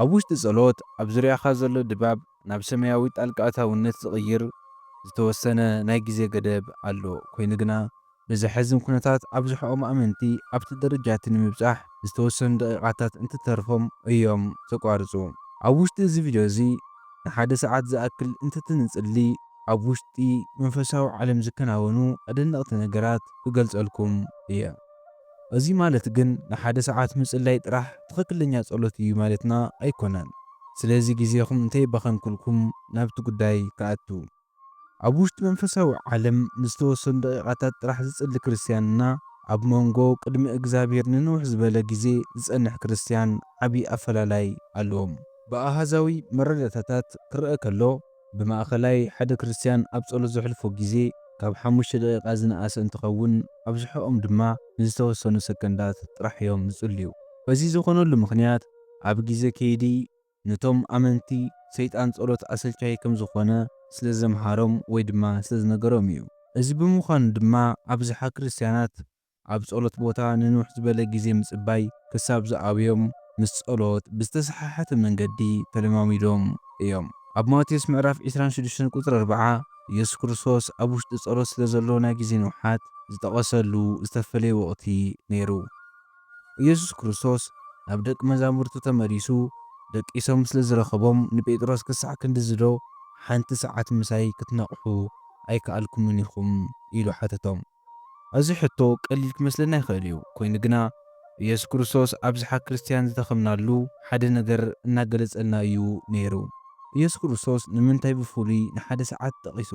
ኣብ ውሽጢ ጸሎት፣ ኣብ ዙርያኻ ዘሎ ድባብ ናብ ሰማያዊ ጣልቃ ኣታውነት ዝቕይር ዝተወሰነ ናይ ግዜ ገደብ ኣሎ፣ ኰይኑ ግና፣ ብዘሕዝን ኵነታት ኣብዝሕኦም ኣመንቲ ኣብቲ ደረጃ እቲ ንምብጻሕ ዝተወሰኑ ደቒቓታት እንትተርፎም እዮም ዘቋርጹ። ኣብ ውሽጢ እዚ ቪድዮ እዚ፣ ንሓደ ሰዓት ዝኣክል እንትትንጽሊ ኣብ ውሽጢ መንፈሳዊ ዓለም ዝከናወኑ ኣደነቕቲ ነገራት ክገልጸልኩም እየ። እዚ ማለት ግን ንሓደ ሰዓት ምጽላይ ጥራሕ ትኽክለኛ ጸሎት እዩ ማለትና ኣይኮነን። ስለዚ ግዜኹም እንተይባኸንኩልኩም ናብቲ ጉዳይ ክኣቱ። ኣብ ውሽጢ መንፈሳዊ ዓለም ንዝተወሰኑ ደቂቓታት ጥራሕ ዝጽሊ ክርስትያን እና ኣብ ሞንጎ ቅድሚ እግዝኣብሄር ንንውሕ ዝበለ ግዜ ዝጸንሕ ክርስትያን ዓቢ ኣፈላላይ ኣለዎም። ብኣሃዛዊ መረዳእታታት ክረኣ ከሎ ብማእከላይ ሓደ ክርስትያን ኣብ ጸሎት ዘሕልፎ ግዜ ካብ ሓሙሽተ ደቒቓ ዝነኣሰ እንትኸውን፣ ኣብዝሐኦም ድማ ንዝተወሰኑ ሰከንዳት ጥራሕ እዮም ዝጽልዩ። እዚ ዝኾነሉ ምኽንያት ኣብ ግዜ ከይዲ ነቶም ኣመንቲ ሰይጣን ጸሎት ኣሰልቻዪ ከም ዝኾነ ስለዘምሃሮም ወይ ድማ ስለዝነገሮም እዩ። እዚ ብምዃኑ ድማ ኣብዝሓ ክርስትያናት ኣብ ጸሎት ቦታ ንንውሕ ዝበለ ግዜ ምጽባይ ክሳብ ዝኣብዮም ምስ ጸሎት ብዝተሰሓሓተ መንገዲ ተለማሚዶም እዮም። ኣብ ማቴዎስ ምዕራፍ ዕስራን ሽዱሽተን ቁጽሪ ኣርብዓ ኢየሱስ ክርስቶስ ኣብ ውሽጢ ጸሎት ስለ ዘሎ ናይ ግዜ ንውሓት ዝጠቐሰሉ ዝተፈለየ ወቕቲ ነይሩ። ኢየሱስ ክርስቶስ ናብ ደቂ መዛሙርቱ ተመሊሱ ደቂሶም ስለ ዝረኸቦም ንጴጥሮስ ክሳዕ ክንድዚዶ ሓንቲ ሰዓት ምሳይ ክትነቕሑ ኣይከኣልኩምን ኢኹም? ኢሉ ሓተቶም። እዚ ሕቶ ቀሊል ክመስለና ይኽእል እዩ፣ ኰይኑ ግና፣ ኢየሱስ ክርስቶስ ኣብዝሓ ክርስትያን ዝደኸምናሉ ሓደ ነገር እናገለጸልና እዩ ነይሩ። ኢየሱስ ክርስቶስ ንምንታይ ብፍሉይ ንሓደ ሰዓት ጠቒሱ?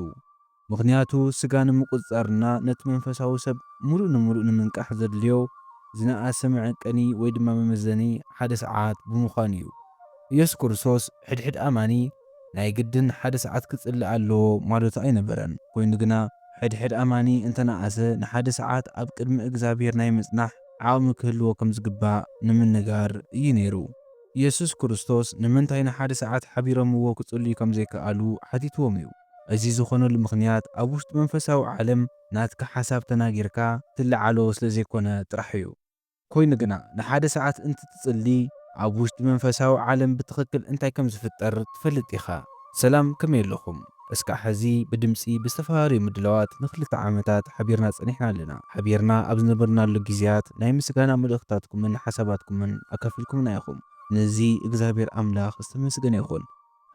ምኽንያቱ፣ ስጋ ንምቍጽጻርና ነቲ መንፈሳዊ ሰብ ምሉእ ንምሉእ ንምንቃሕ ዘድልዮ ዝነኣሰ መዐቀኒ ወይ ድማ መመዘኒ ሓደ ሰዓት ብምዃኑ እዩ። ኢየሱስ ክርስቶስ ሕድሕድ ኣማኒ፣ ናይ ግድን ሓደ ሰዓት ክጽሊ ኣለዎ ማለቱ ኣይነበረን፣ ኮይኑ ግና ሕድሕድ ኣማኒ እንተ ነኣሰ ንሓደ ሰዓት ኣብ ቅድሚ እግዝኣብሄር ናይ ምጽናሕ ዓቕሚ ክህልዎ ከም ዝግባእ ንምንጋር እዩ ነይሩ። የሱስ ክርስቶስ ንምንታይ ንሓደ ሰዓት ሓቢሮምዎ ክጽልዩ ከም ዘይከኣሉ ሓቲትዎም እዩ። እዚ ዝኾነሉ ምኽንያት ኣብ ውሽጢ መንፈሳዊ ዓለም ናትካ ሓሳብ ተናጊርካ ትለዓሎ ስለ ዘይኮነ ጥራሕ እዩ። ኰይኑ ግና፣ ንሓደ ሰዓት እንትትጽሊ፣ ኣብ ውሽጢ መንፈሳዊ ዓለም ብትኽክል እንታይ ከም ዝፍጠር ትፈልጥ ኢኻ። ሰላም ከመይ ኣለኹም? እስካዕ ሐዚ ብድምፂ ብዝተፈላለዩ ምድላዋት ንክልተ ዓመታት ሓቢርና ፀኒሕና ኣለና። ሓቢርና ኣብ ዝነበርናሉ ጊዜያት ናይ ምስጋና መልእኽትታትኩምን ሓሳባትኩምን ኣካፊልኩምና ኢኹም። ንዚ እግዚኣብሔር ኣምላኽ ዝተመስገነ ይኹን።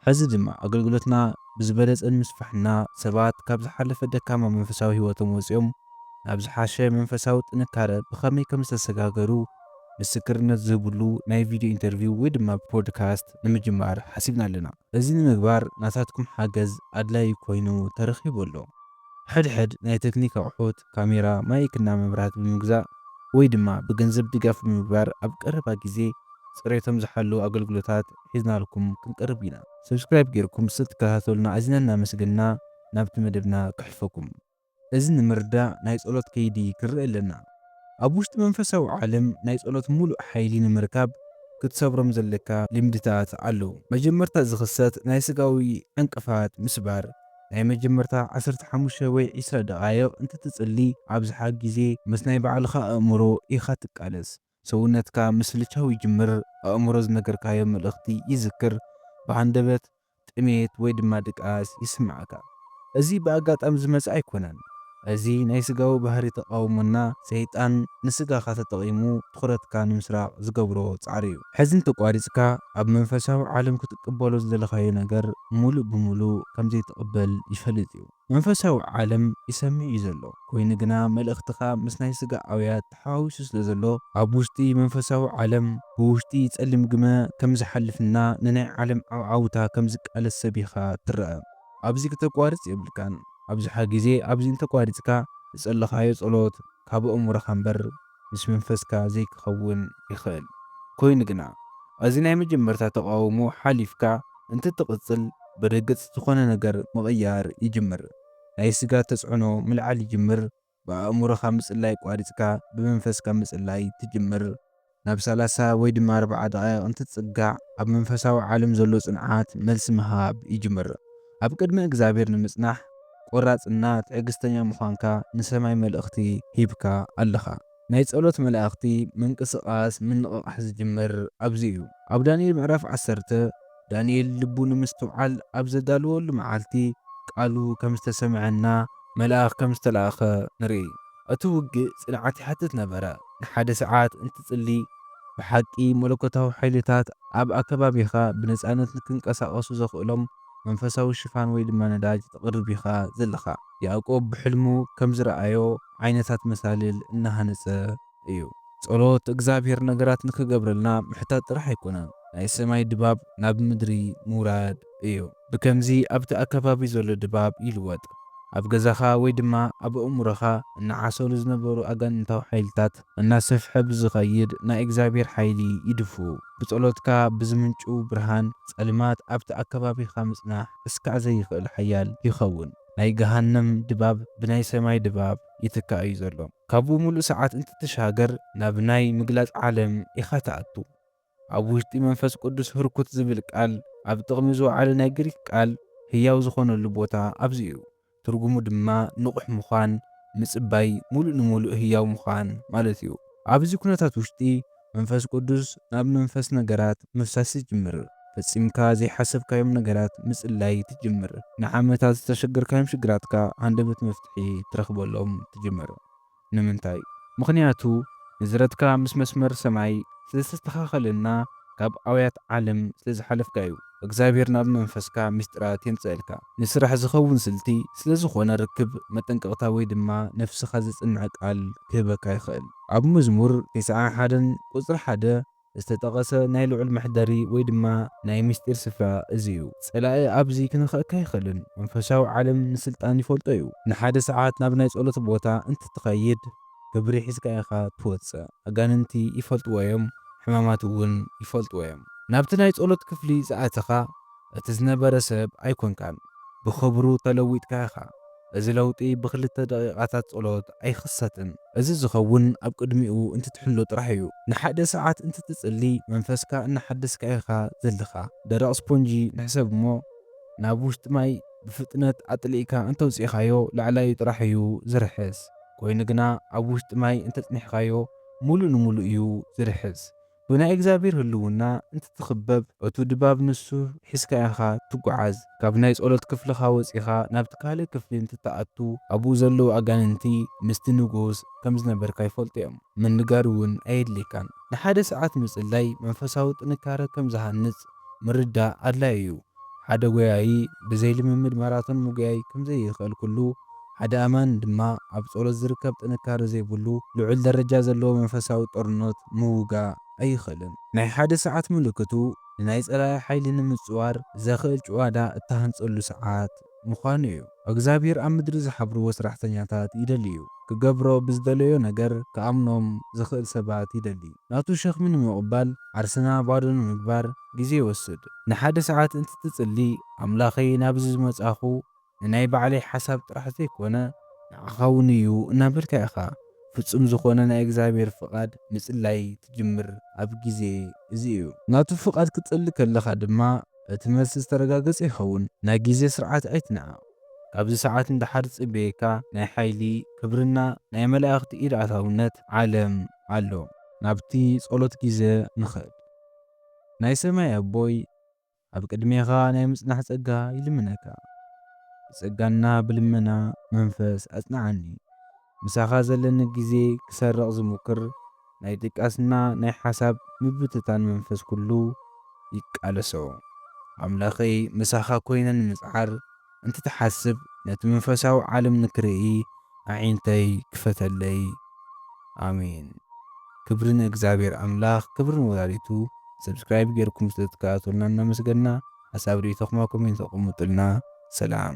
ሕዚ ድማ ኣገልግሎትና ብዝበለጸ ንምስፋሕና ሰባት ካብ ዝሓለፈ ደካማ መንፈሳዊ ሕይወቶም ወጺኦም ናብ ዝሓሸ መንፈሳዊ ጥንካረ ብኸመይ ከም ዝተሰጋገሩ ምስክርነት ዝህብሉ ናይ ቪድዮ ኢንተርቪው ወይ ድማ ብፖድካስት ንምጅማር ሓሲብና ኣለና። እዚ ንምግባር ናታትኩም ሓገዝ ኣድላዪ ኮይኑ ተረኺቡ ኣሎ። ሕድሕድ ናይ ተክኒክ ኣቕሑት ካሜራ፣ ማይክ እና መብራህቲ ብምግዛእ ወይ ድማ ብገንዘብ ድጋፍ ብምግባር ኣብ ቀረባ ግዜ ፅሬቶም ዝሓለዉ ኣገልግሎታት ሒዝናልኩም ክንቀርብ ኢና። Subscribe ጌርኩም ስለ ትከታተሉና ኣዚና እናመስገንና ናብቲ መደብና ክሕልፈኩም። እዚ ንምርዳእ ናይ ጸሎት ከይዲ ክንርኢ ኣለና። ኣብ ውሽጢ መንፈሳዊ ዓለም ናይ ጸሎት ሙሉእ ሓይሊ ንምርካብ ክትሰብሮም ዘለካ ልምድታት ኣለዉ። መጀመርታ ዝኽሰት ናይ ስጋዊ ዕንቅፋት ምስባር ናይ መጀመርታ ዓሰርተ ሓሙሽተ ወይ ዕስራ ደቓይቕ እንትትጽሊ ኣብዝሓ ግዜ ምስ ናይ ባዕልኻ ኣእምሮ ኢኻ ትቃለስ። ሰውነትካ ምስልቻው ይጅምር፣ ኣእምሮ ዝነገርካዮ መልእኽቲ ይዝክር፣ ብሃንደበት፣ ጥሜት ወይ ድማ ድቃስ ይስምዓካ። እዚ ብኣጋጣሚ ዝመጸ ኣይኮነን። እዚ ናይ ስጋዊ ባህሪ ተቓውሞና ሰይጣን ንስጋኻ ተጠቒሙ ትኹረትካ ንምስራቕ ዝገብሮ ጻዕሪ እዩ። ሕዚ እንተቋሪጽካ ኣብ መንፈሳዊ ዓለም ክትቅበሎ ዝደለኻዮ ነገር ምሉእ ብምሉእ ከም ዘይትቕበል ይፈልጥ እዩ። መንፈሳዊ ዓለም ይሰምዕ እዩ ዘሎ ኮይኑ ግና መልእኽትኻ ምስ ናይ ስጋ ኣውያት ተሓዋዊሱ ስለ ዘሎ ኣብ ውሽጢ መንፈሳዊ ዓለም ብውሽጢ ጸሊም ግመ ከም ዝሓልፍና ንናይ ዓለም ዓውዓውታ ከም ዝቃለስ ሰቢኻ ትረኣ። ኣብዚ ክተቋርጽ የብልካን ኣብዝሓ ግዜ ኣብዚ እንተቋሪጽካ ዝጸለኻዮ ጸሎት ካብ ኣእምሮኻ እምበር ምስ መንፈስካ ዘይክኸውን ይኽእል ኮይኑ ግና ኣዚ ናይ መጀመርታ ተቓውሞ ሓሊፍካ እንትትቕጽል ብርግጽ ዝኾነ ነገር ምቕያር ይጅምር ናይ ስጋ ተጽዕኖ ምልዓል ይጅምር ብኣእምሮኻ ምጽላይ ቋሪጽካ ብመንፈስካ ምጽላይ ትጅምር። ናብ ሰላሳ ወይ ድማ ኣርብዓ ደቓይቕ እንትትጽጋዕ ኣብ መንፈሳዊ ዓለም ዘሎ ጽንዓት መልሲ ምሃብ ይጅምር። ኣብ ቅድሚ እግዚኣብሔር ንምጽናሕ ቆራጽ እና ትዕግስተኛ ምዃንካ ንሰማይ መልእኽቲ ሂብካ ኣለኻ። ናይ ጸሎት መላእኽቲ ምንቅስቓስ ምንቕቓሕ ዝጅምር ኣብዚ እዩ። ኣብ ዳንኤል ምዕራፍ ዓሰርተ ዳንኤል ልቡ ንምስትውዓል ኣብ ዘዳለወሉ መዓልቲ፣ ቃሉ ከም ዝተሰምዐና መልኣኽ ከም ዝተላእከ ንርኢ። እቲ ውግእ ጽንዓት ይሓትት ነበረ። ንሓደ ሰዓት እንትጽሊ፣ ብሓቂ መለኮታዊ ሓይልታት ኣብ ኣከባቢኻ ብነጻነት ንክንቀሳቐሱ ዘኽእሎም መንፈሳዊ ሽፋን ወይ ድማ ነዳጅ ተቕርብ ኢኻ ዘለኻ። ያእቆብ ብሕልሙ ከም ዝረኣዮ ዓይነታት መሳልል እናሃነጸ፣ እዩ። ጸሎት እግዝኣብሄር ነገራት ንክገብረልና ምሕታት ጥራሕ ኣይኮነን ናይ ሰማይ ድባብ ናብ ምድሪ ምውራድ እዩ። ብከምዚ ኣብቲ ኣከባቢ ዘሎ ድባብ ይልወጥ። ኣብ ገዛኻ ወይ ድማ ኣብ ኣእምሮኻ እናዓሰሉ ዝነበሩ ኣጋንንታዊ ሓይልታት እናሰፍሐ ብዝኸይድ ናይ እግዝኣብሄር ሓይሊ ይድፍኡ። ብጸሎትካ ብዝምንጭው ብርሃን ጸልማት ኣብቲ ኣከባቢኻ ምጽናሕ እስካዕ ዘይክእል ሓያል ይኸውን። ናይ ገሃነም ድባብ ብናይ ሰማይ ድባብ ይትካእ እዩ ዘሎ። ካብኡ ምሉእ ሰዓት እንትትሻገር ናብ ናይ ምግላጽ ዓለም ኢኻ ትኣቱ። ኣብ ውሽጢ መንፈስ ቅዱስ ህርኩት ዝብል ቃል ኣብ ጥቕሚ ዝወዓለ ናይ ግሪክ ቃል ህያው ዝኾነሉ ቦታ ኣብዚ እዩ። ትርጉሙ ድማ ንቑሕ ምዃን፣ ምጽባይ፣ ምሉእ ንምሉእ ህያው ምዃን ማለት እዩ። ኣብዚ ኩነታት ውሽጢ መንፈስ ቅዱስ ናብ መንፈስ ነገራት ምፍሳስ ይጅምር። ፈጺምካ ዘይሓሰብካዮም ነገራት ምጽላይ ትጅምር። ንዓመታት ዝተሸገርካዮም ሽግራትካ ሃንደበት መፍትሒ ትረኽበሎም ትጅምር። ንምንታይ? ምኽንያቱ ንዝረትካ ምስ መስመር ሰማይ ስለዝተስተኻኸለና ካብ ኣውያት ዓለም ስለዝሓለፍካዩ። እግዚኣብሔር ናብ መንፈስካ ምስጢራት የምጽኣልካ። ንስራሕ ዝኸውን ስልቲ ስለዝኾነ ርክብ መጠንቀቕታ ወይ ድማ ነፍስኻ ዘጽንዕ ቃል ክህበካ ይኽእል። ኣብ መዝሙር ቴስዓን ሓደን ቁጽሪ ሓደ ዝተጠቐሰ ናይ ልዑል መሕደሪ ወይ ድማ ናይ ምስጢር ስፍራ እዚ እዩ። ጸላኢ ኣብዚ ክንክኣካ ኣይኽእልን። መንፈሳዊ ዓለም ንስልጣን ይፈልጦ እዩ። ንሓደ ሰዓት ናብ ናይ ጸሎት ቦታ እንትትኸይድ ክብሪ ሒዝካ ኢኻ ትወጽእ። ኣጋንንቲ ይፈልጥዎ እዮም ሕማማት እውን ይፈልጥዎ እዮም። ናብቲ ናይ ጸሎት ክፍሊ ዝኣተኻ እቲ ዝነበረ ሰብ ኣይኮንካን። ብኽብሩ ተለዊጥካ ኢኻ። እዚ ለውጢ ብክልተ ደቂቓታት ጸሎት ኣይኽሰትን። እዚ ዝኸውን ኣብ ቅድሚኡ እንትትሕሎ ጥራሕ እዩ። ንሓደ ሰዓት እንትትጽሊ መንፈስካ እናሓደስካ ኢኻ ዘልኻ። ደረቕ ስፖንጂ ንሕሰብ እሞ ናብ ውሽጢ ማይ ብፍጥነት ኣጥሊእካ እንተውጺእኻዮ ላዕላዩ ጥራሕ እዩ ዝርሕስ። ኮይኑ ግና ኣብ ውሽጢ ማይ እንተጽኒሕካዮ ሙሉእ ንሙሉእ እዩ ዝርሕስ። ብናይ እግዚኣብሔር ህልውና እንትትኽበብ እቱ ድባብ ንሱ ሒዝካ ኢኻ ትጉዓዝ። ካብ ናይ ጸሎት ክፍልኻ ወጺኻ ናብቲ ካልእ ክፍሊ እንትትኣቱ ኣብኡ ዘለዉ ኣጋንንቲ ምስቲ ንጉስ ከም ዝነበርካ ይፈልጡ እዮም። ምንጋር እውን ኣየድልየካን። ንሓደ ሰዓት ምጽላይ መንፈሳዊ ጥንካረ ከም ዝሃንጽ ምርዳእ ኣድላዪ እዩ። ሓደ ጐያዪ ብዘይ ልምምድ ማራቶን ምጕያይ ከም ዘይኽእል ኵሉ፣ ሓደ ኣማኒ ድማ ኣብ ጸሎት ዝርከብ ጥንካረ ዘይብሉ ልዑል ደረጃ ዘለዎ መንፈሳዊ ጦርነት ምውጋእ ኣይኽእልን። ናይ ሓደ ሰዓት ምልክቱ ንናይ ጸላኢ ሓይሊ ንምጽዋር ዘኽእል ጭዋዳ እትሃንጸሉ ሰዓት እዩ። ምዃኑ እዩ። ኣግዚኣብሄር ኣብ ምድሪ ዝሓብርዎ ስራሕተኛታት ይደሊ እዩ። ክገብሮ ብዝደለዮ ነገር ክኣምኖም ዝኽእል ሰባት ይደሊ። ናቱ ሸኽሚ ንምቕባል ዓርስና ባዶ ንምግባር ግዜ ይወስድ። ንሓደ ሰዓት እንትትጽሊ ኣምላኸይ ናብዚ ዝመጻኹ ንናይ ባዕለይ ሓሳብ ጥራሕ ዘይኮነ፣ ንዓኻ እውን እዩ እናበልካ ኢኻ ፍጹም ዝኾነ ናይ እግዚኣብሄር ፍቓድ ምጽላይ ትጅምር ኣብ ግዜ እዚ እዩ። ናቱ ፍቓድ ክትጽሊ ከለኻ ድማ እቲ መልሲ ዝተረጋገጸ ይኸውን። ናይ ግዜ ስርዓት ኣይትንዓቕ። ካብዚ ሰዓት ንደሓር ዝጽበየካ ናይ ሓይሊ፣ ክብርና ናይ መላእኽቲ ኢድ ኣታውነት ዓለም ኣሎ። ናብቲ ጸሎት ግዜ ንኸድ። ናይ ሰማይ ኣቦይ ኣብ ቅድሜኻ ናይ ምጽናሕ ጸጋ ይልምነካ። ብጸጋና ብልመና መንፈስ ኣጽንዓኒ። ምሳኻ ዘለኒ ግዜ ክሰርቕ ዝሙክር ናይ ድቃስና ናይ ሓሳብ ምብትታን መንፈስ ኩሉ ይቃለሶ። ኣምላኸይ ምሳኻ ኮይነ ንምጽዓር እንትትሓስብ ነቲ መንፈሳዊ ዓለም ንክርኢ ኣዒንተይ ክፈተለይ ኣሜን። ክብሪ ንእግዝኣብሄር ኣምላኽ ክብሪ ንወላዲቱ Subscribe ጌርኩም ስለ ትከታተሉና እናመስገና ሓሳብ ሪኢቶኹም ኣብ ኮሜንት ኣቁሙጥልና ሰላም።